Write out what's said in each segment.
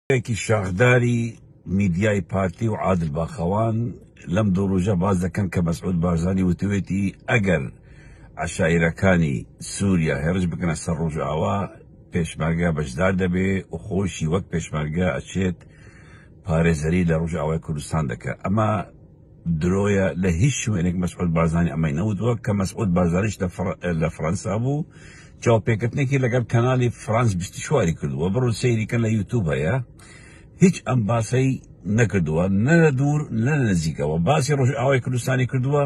ڕێبەرێکی شاخداری میدیای پارتی و عادل باخەوان لەم دوو ڕۆژە باس دەکەن کە مەسعود بارزانی وتوێتی ئەگەر عەشایرەکانی سووریا هێڕش بکەنە سەر ڕۆژئاوا پێشمەرگە بەشدار دەبێ و خۆیشی وەک پێشمەرگە ئەچێت پارێزەری لە ڕۆژئاوای کوردستان دەکا ئەمە درۆیە لە هیچ شوێنێک مەسعود بارزانی ئەمەی نەوتوە کە مەسعود بارزانیش لە فڕەنسا بوو چاوپێکردنێکی لەگەڵ کەنالی فرانس بیستشواری کردووە بڕو سەیریکە لە یوتوب هەیە هیچ ئەم باسەی نەکردووە نە دوور لە نزیکەوە باسی ڕۆژ ئاوای کوردستانی کردووە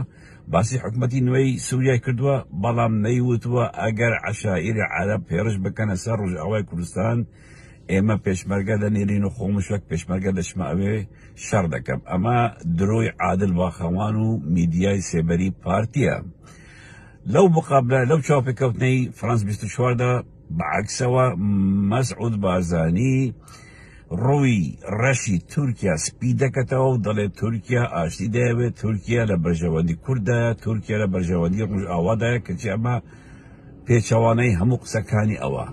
باسی حکوومەتی نوێی سووریای کردووە بەڵام نەیوتوە ئەگەر عشاعری عرب پێرش بکەنە سەر ڕژاوای کوردستان ئێمە پێشمەرگە دەنێرین و خۆمش وەک پێشمەرگە دەچمە ئەوێ شەڕ دەکەم ئەمە درۆی عادل باخەوان و میدیای سێبەری پارتیە لەو مقابلە لەو چاوپێکەوتنەی فرانس 24 دا بەعکسەوە مەسعود بارزانی ڕووی ڕەشی تورکیا سپی دەکەتەوە و دەڵێت تورکیا ئاشتی دەیەوێت تورکیا لە بەرژەوەندی کوردایە تورکیا لە بەرژەوەندی ڕژئاوادایە کەچی ئەمە پێچەوانەی هەموو قسەکانی ئەوە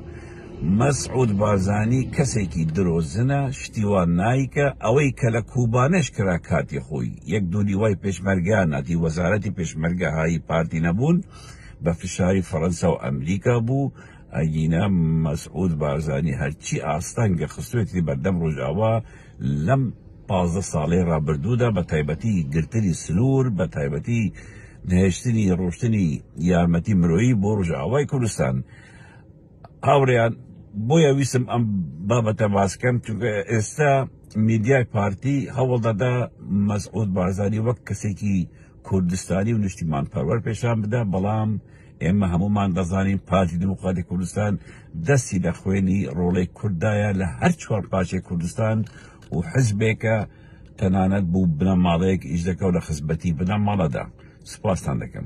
مە سعود بارزانی کەسێکی درۆ زنە شتی وا نایکە ئەوەی کە لە کوبانێش کرا کاتی خۆی یەک دونیوای پێشمەرگە ناتی وەزارەتی پێشمەرگە هایی پارتی نەبوون بە فشاری فەرەنسا و ئەمریکا بوو ئەگینا مە سعود بارزانی هەرچی ئاستەنگە خستوێتی بەردەم ڕۆژاوا لەم پازدە ساڵەی ڕابردوودا بە تایبەتی گرتنی سنوور بە تایبەتی نهێشتنی ڕۆشتنی یارمەتی مرۆیی بۆ ڕژاوای کوردستان هاوڕیان بۆیە ویسم ئەم بابەتە باسکەم چونکە ئێستا میدیای پارتی هەوڵدەدا مەسعود بارزانی وەک کەسێکی کوردستانی و نیشتیمان پەروەر پێشان بدا بەڵام ئێمە هەموومان دەزانین پارتی دیموکراتی کوردستان دەستی لە خوێنی ڕۆڵەی کوردایە لە هەر چوار پارچەی کوردستان و حزبێکە تەنانەت بوو بنەماڵەیەک ئیش دەکەو لە خزمەتی بنەماڵەدا سوپاستان دەکەم